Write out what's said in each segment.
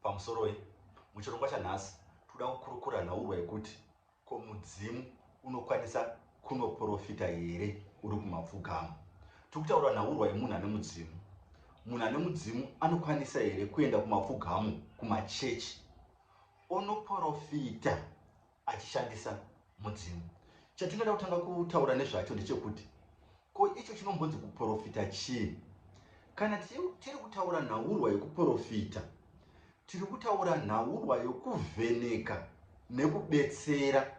Pamusoroi, muchirongwa chanhasi tikuda kukurukura nhaurwa yekuti ko mudzimu unokwanisa kunoporofita here uri kumapfugama. Tiri kutaura nhaurwa yemunhu ane mudzimu. Munhu ane mudzimu anokwanisa here kuenda kumapfugamo, kumachechi, onoporofita achishandisa mudzimu. Chatingada kutanga kutaura nezvacho ndechekuti ko icho chinombonzi kuprofita chii? Kana tiri kutaura nhaurwa yekuprofita, tiri kutaura nhaurwa yokuvheneka nekubetsera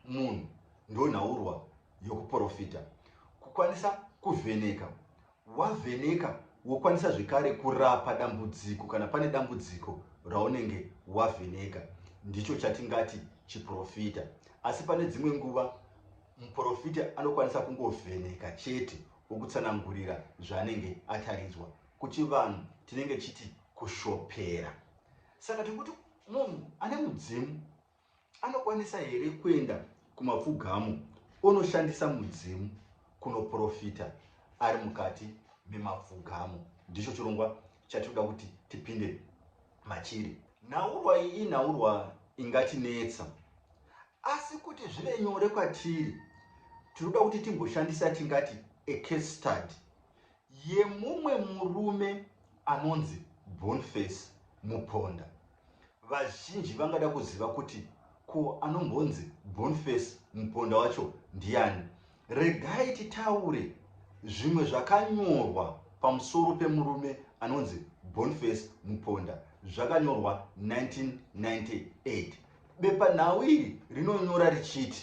munhu, ndonhaurwa yokuprofita. Kukwanisa kuvheneka Wavheneka wokwanisa zvekare kurapa dambudziko kana pane dambudziko raunenge wavheneka. Ndicho chatingati chiprofita. Asi pane dzimwe nguva muprofita anokwanisa kungovheneka chete okutsanangurira zvaanenge ataridzwa. Kuchivanhu tinenge tichiti kushopera. Saka tiri kuti munhu ane mudzimu Anokwanisa here kuenda kumapfugamo onoshandisa mudzimu kunoprofita ari mukati memapfugamo? Ndicho chirongwa chatinoda kuti tipinde machiri. Nhaurwa iyi inhaurwa ingatinetsa, asi kuti zvive nyore kwatiri, tinoda kuti timboshandisa yatingati a case study yemumwe murume anonzi Bonface Muponda. Vazhinji vangada kuziva kuti ko anombonzi Bonface Muponda wacho ndiani? Regai titaure zvimwe zvakanyorwa pamusoro pemurume anonzi Bonface Muponda zvakanyorwa 1998. Bepanhau iri rinonyora richiti.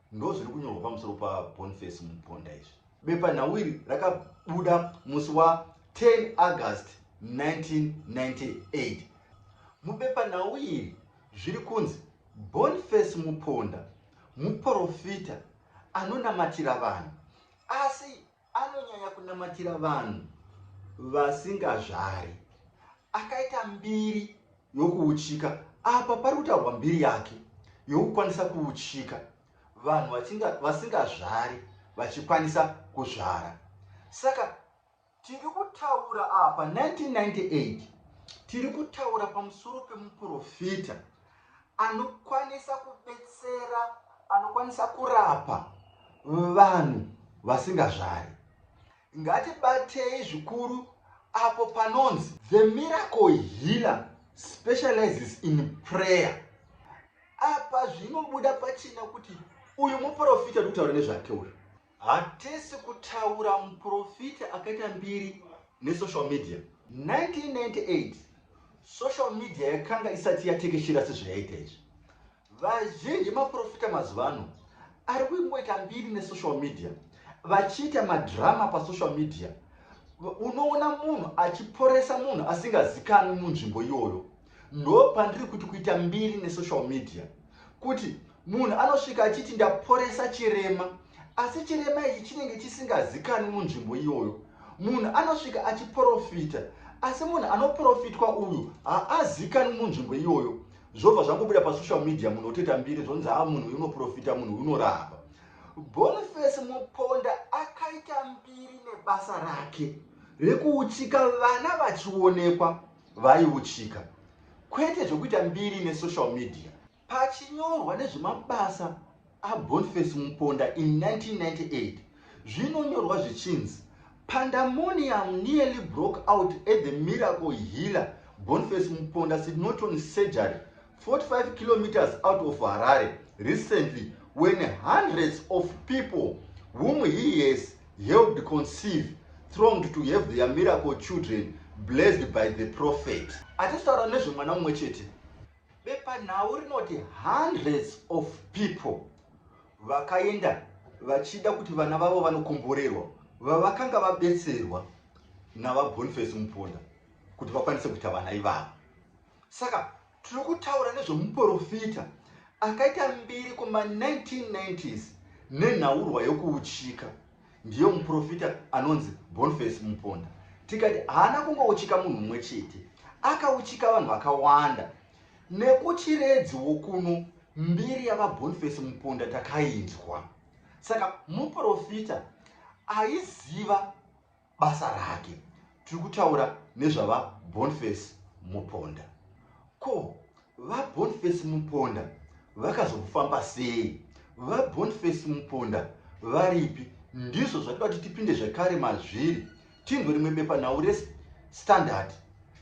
Ndozviri kunyorwa pamusoro paBoniface Muponda izvi. Bepanhau iri rakabuda musi wa 10 August 1998. Mubepanhau iri zviri kunzi Boniface Muponda muporofita anonamatira vanhu asi Anonyanya kunamatira vanhu vasingazvari. Akaita mbiri yokuuchika. Apa pari kutaurwa mbiri yake yokukwanisa kuuchika, vanhu vasingazvari vachikwanisa kuzvara. Saka tiri kutaura apa 1998 tiri kutaura pamusoro pemuprofita anokwanisa kubetsera anokwanisa kurapa vanhu vasingazvari ngatibatei zvikuru apo panonzi the miracle healer specializes in prayer apa zvinobuda pachina kuti uyu muprofita ndikutaura nezvake uyu Hatisi kutaura muporofita akaita mbiri nesocial media. 1998 social media yakanga isati yatekeshera sezvayaita izvi. Vazhinji maporofita mazuva ano ari kungoita mbiri nesocial media vachiita madrama pasocial media. Unoona munhu achiporesa munhu asingazikanwi munzvimbo iyoyo. Ndo pandiri kuti kuita mbiri nesocial media kuti Munhu anosvika achiti ndaporesa chirema asi chirema ichi chinenge chisingazikanwi munzvimbo iyoyo. Munhu anosvika achiporofita asi munhu anoprofitwa uyu haazikanwi munzvimbo iyoyo. Zvobva zvangobuda pasocial media munhu otoita mbiri zvonzi haa munhu uyu unoprofita munhu uyu unorapa. Boniface Muponda akaita mbiri nebasa rake rekuuchika vana vachionekwa vaiuchika kwete zvekuita mbiri nesocial media. Pachinyorwa nezvemabasa aBoniface Muponda in 1998, zvinonyorwa zvichinzi, Pandamonium nearly broke out at the Miracle Healer Boniface Muponda Sidnoton Surgery, 45 kilometres out of Harare, recently when hundreds of people whom he has helped conceive thronged to have their miracle children blessed by the prophet. Achitaura nezvemwana mumwe chete, Bepanhau rinoti hundreds of people vakaenda vachida kuti vana vavo vanokomborerwa vavakanga vabetserwa naVaBoniface Muponda kuti vakwanise kuita vana ivavo. Saka tiri kutaura nezvemuporofita akaita mbiri kuma 1990s nenhaurwa yokuuchika. ndiye muprofita anonzi Boniface Muponda. Tikati haana kungouchika munhu mumwe chete, akauchika vanhu vakawanda. Nekuchiredzi wokuno mbiri yaVaBoniface Muponda takainzwa. Saka muprofita aiziva basa rake. Tiri kutaura nezvaVaBoniface Muponda. Ko VaBoniface Muponda vakazofamba sei? VaBoniface Muponda varipi? Ndizvo zvatida kuti tipinde zvekare mazviri tinzwe rimwe bepanhau reStandard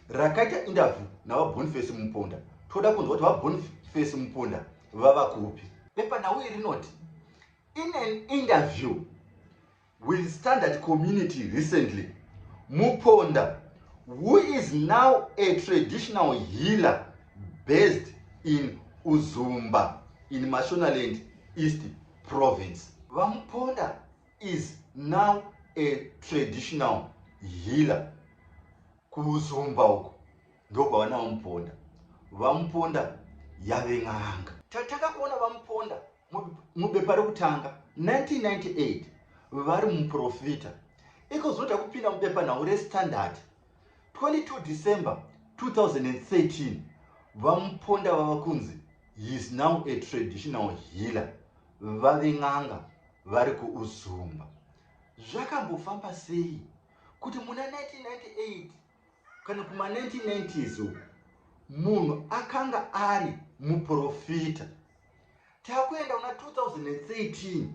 rakaita indavhu naVaBoniface Muponda. Toda kunzwa kuti VaBoniface Muponda vava kupi. Bepanhau iri rinoti, In an interview, with standard community recently muponda who is now a traditional healer based in uzumba in mashonaland east province vamuponda is now a traditional healer kuuzumba uko ndokwawana vamuponda vamuponda yave n'anga tatakakuona vamuponda mubepa rekutanga 1998 vari muprofita ikozoda kupinda mubepa nhau restandard 22 december 2013 vamuponda vava kunzi his now a traditional healer vave n'anga vari kuuzumba zvakambofamba sei kuti muna 1998 Kana kuma 1990s uku munhu akanga ari muprofita. Takuenda kuna 2013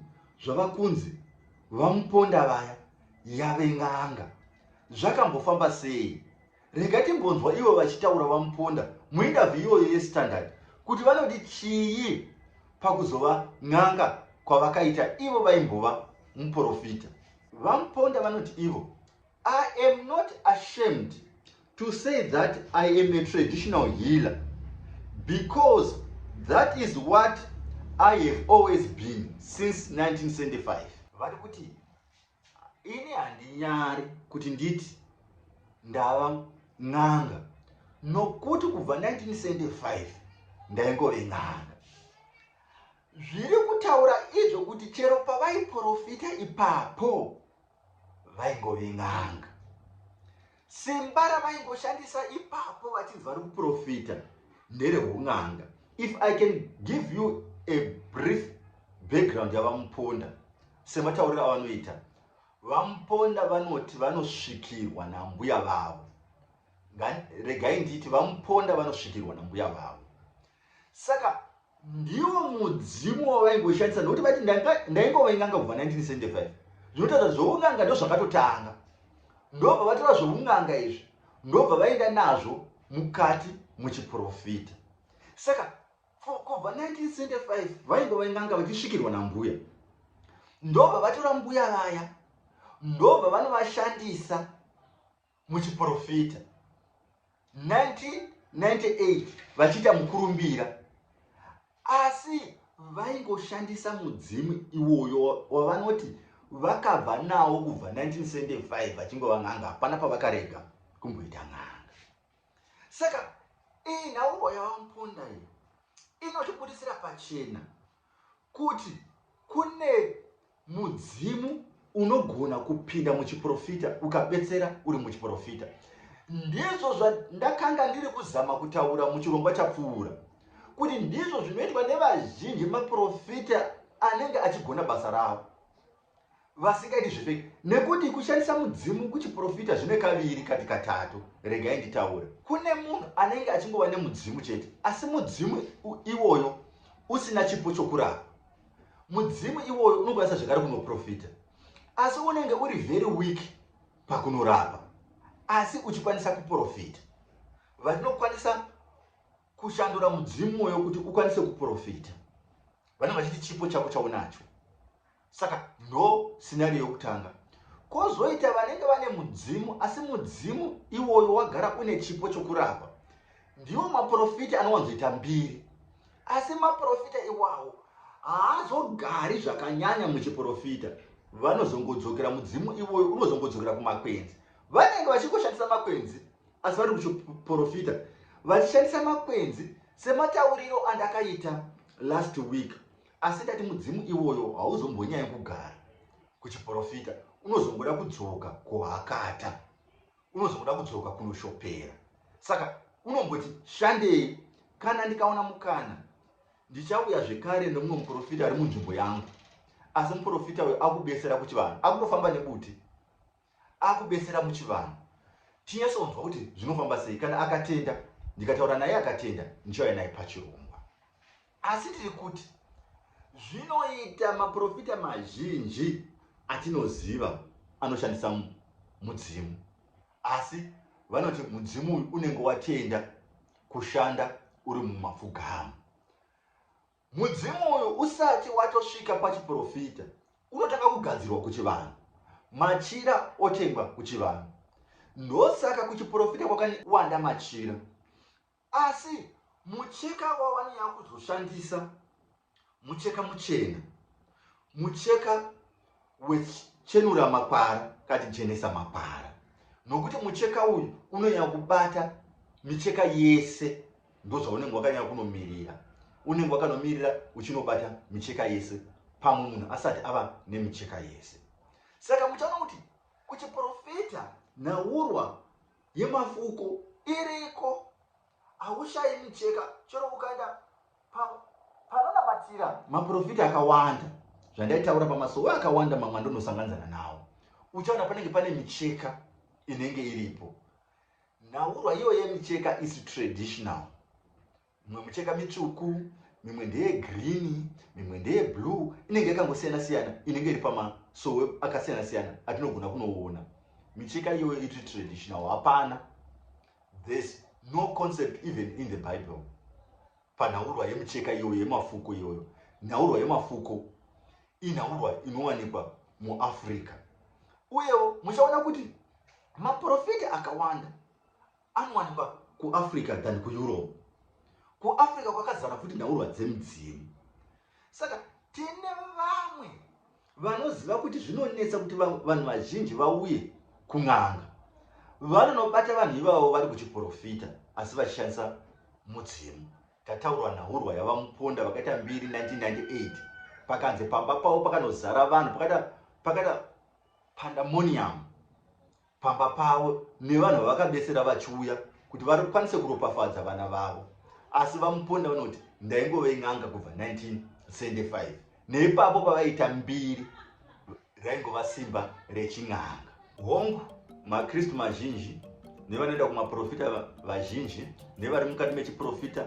zvava kunzi vamuponda vaya yave n'anga. Zvakambofamba sei? Rega timbonzwa ivo vachitaura vamuponda muinterview iyoyo yestandard kuti vanodi chii pakuzova n'anga kwavakaita ivo vaimbova muprofita. VaMuponda vanoti ivo I am not ashamed to say that I am a traditional healer because that is what I have always been since 1975. Vari kuti ini handinyari kuti nditi ndava n'anga nokuti kubva 1975 ndaingove n'anga zviri kutaura izvo kuti chero pavaiprofita ipapo vaingove n'anga simba ravaingoshandisa ipapo vachinzi vari kuprofita ndereun'anga if i can give you a brief background yavamuponda sematauriro avanoita vamuponda vanoti vanosvikirwa nambuya vavo regai ndiiti vamuponda vanosvikirwa nambuya vavo saka ndiwo mudzimu wavaingoshandisa nokuti vati ndaingova inganga kubva 1975 zvinotaura zvoun'anga ndozvakatotanga ndobva vatora zvoun'anga izvi ndobva vaenda nazvo mukati muchiprofita saka kubva 1975 vaingova inganga vachisvikirwa nambuya ndobva vatora mbuya vaya ndobva vanovashandisa muchiprofita 1998 vachiita mukurumbira asi vaingoshandisa mudzimu iwoyo wavanoti vakabva nawo kubva 1975 vachingova n'anga hapana pavakarega kumboita n'anga saka iyi nhauro yavamponda iyi inotibudisira pachena Kuti kune mudzimu unogona kupinda muchiprofita ukabetsera uri muchiprofita. Ndizvo zvandakanga ndiri kuzama kutaura muchirongwa chapfuura, kuti ndizvo zvinoitwa nevazhinji maprofita anenge achigona basa ravo. vasingaiti zvefeki nekuti kushandisa mudzimu kuchiprofita zvine kaviri kati katatu regai nditaure kune munhu anenge achingova nemudzimu chete asi mudzimu iwoyo usina chipo chokurapa mudzimu iwoyo unokwanisa zvekare kunoprofita asi unenge uri very weak pakunorapa asi uchikwanisa kuprofita vatinokwanisa kushandura mudzimu uyo kuti ukwanise kuprofita vanenge vachiti chipo chako chaunacho Saka ndo scenario yokutanga. Kozoita vanenge vane mudzimu asi mudzimu iwoyo wagara une chipo chokurapa. Ndiwo maprofita anowanzoita mbiri. Asi maprofita iwawo haazogari zvakanyanya muchiprofita. Vanozongodzokera mudzimu iwoyo unozongodzokera kumakwenzi. Vanenge vachingoshandisa makwenzi asi vari kuchiprofita vachishandisa makwenzi sematauriro andakaita last week. Asi ndati mudzimu iwoyo hauzombonyanyi kugara kuchiporofita, unozongoda kudzoka kuhakata, unozongoda kudzoka kunoshopera. Saka unomboti shandei, kana ndikawana mukana ndichauya zvekare nemumwe muporofita ari munzvimbo yangu. Asi muporofita uyu akubesera kuchivanhu, akutofamba nebuti. akubetsera muchivanhu tinyatsonzwa kuti zvinofamba sei kana akatenda ndikataura naye akatenda ndichauya naye pachirongwa asi tiri kuti zvinoita maprofita mazhinji atinoziva anoshandisa mudzimu asi vanoti mudzimu uyu unenge watenda kushanda uri mumapfugamu Mudzimu uyu usati watosvika pachiporofita unotanga kugadzirwa kuchivanhu, machira otengwa kuchivanhu. Ndosaka kuchiporofita kwakawanda machira. Asi mucheka wawanonyanya kuzoshandisa mucheka muchena, mucheka wechenura makwara kati jenesa makwara nokuti mucheka uyu unonyanya kubata micheka yese ndozvaunenge wakanyanya kunomirira unenge wakanomirira uchinobata micheka yese pamwe munhu asati ava nemicheka yese saka muchaona kuti kuchiprofita nhaurwa yemafuko iriko haushayi micheka chero ukaenda Pa, panonamatira maprofita akawanda zvandaitaura pamasowe akawanda mamwe andonosanganzana nawo uchaona panenge pane micheka inenge iripo nhaurwa iyoyo yemicheka is traditional mimwe micheka mitsvuku mimwe ndeye green mimwe ndeye blue inenge yakangosiyana siyana inenge iri pamasowe akasiyana siyana atinogona kunoona micheka iyoyo iri traditional hapana There's no concept even in the Bible panhaurwa yemucheka iyoyo yemafuko iyoyo. Nhaurwa yemafuko inhaurwa inowanikwa muAfrica. Uyewo muchaona kuti maprofita akawanda anowanikwa kuAfrica than kuEurope. KuAfrica kwakazara futi nhaurwa dzemidzimu. Saka tine vamwe Vanoziva kuti zvinonetsa kuti vanhu vazhinji vauye kun'anga vanonobata vanhu ivavo vari kuchiporofita asi vachishandisa mudzimu. Tataurwa nhaurwa yavaMuponda vakaita mbiri 1998 pakanzi pamba pavo pakanozara vanhu pakaita pakaita pandemonium. pamba pavo nevanhu vavakabesera vachiuya kuti varikwanise kuropafadza vana vavo asi vamuponda vanoti ndaingove n'anga kubva 1975 neipapo pavaita mbiri raingova simba rechin'anga hongu makristu mazhinji nevanoenda kumaprofita vazhinji nevari mukati mechiprofita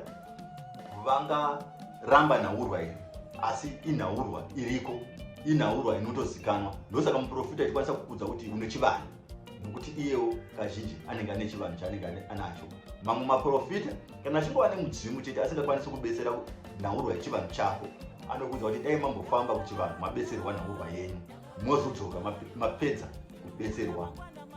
vangaramba nhaurwa iri asi inhaurwa iriko inhaurwa inotozikanwa ndosaka muprofita ichikwanisa kukudza kuti une chivanhu nokuti iyewo kazhinji anenge ane chivanhu chaanenge anacho mamwe maprofita kana achingova nemudzimu chete asingakwanisi kubetsera nhaurwa yechivanhu chako anokudza kuti dai mambofamba kuchivanhu mabetserwa nhaurwa yenyu mozodzoka mapedza kubetserwa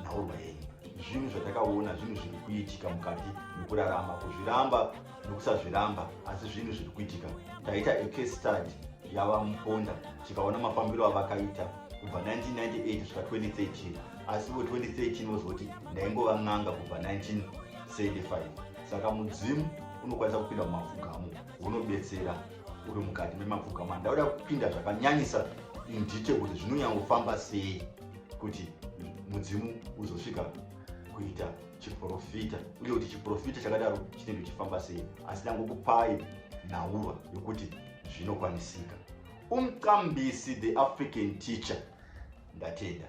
nhaurwa yenyu zvinhu zvatakaona zvinhu zviri kuitika mukati mekurarama kuzviramba nokusazviramba asi zvinhu zviri kuitika taita ecastad yava muponda tikaona mafambiro avakaita kubva 1998 svika 2013 asi vo 2013 vozoti ndaingova n'anga kubva 1975 saka mudzimu unokwanisa kupinda mumapfugamo unobetsera uri mukati memapfugamano ndauda kupinda zvakanyanyisa indite kuti zvinonyangofamba sei kuti mudzimu uzosvika kuita chiprofita uye kuti chiprofita chakadaro chinenge chifamba sei asi ndangokupai nhaurwa yokuti zvinokwanisika umqambisi the african teacher ndatenda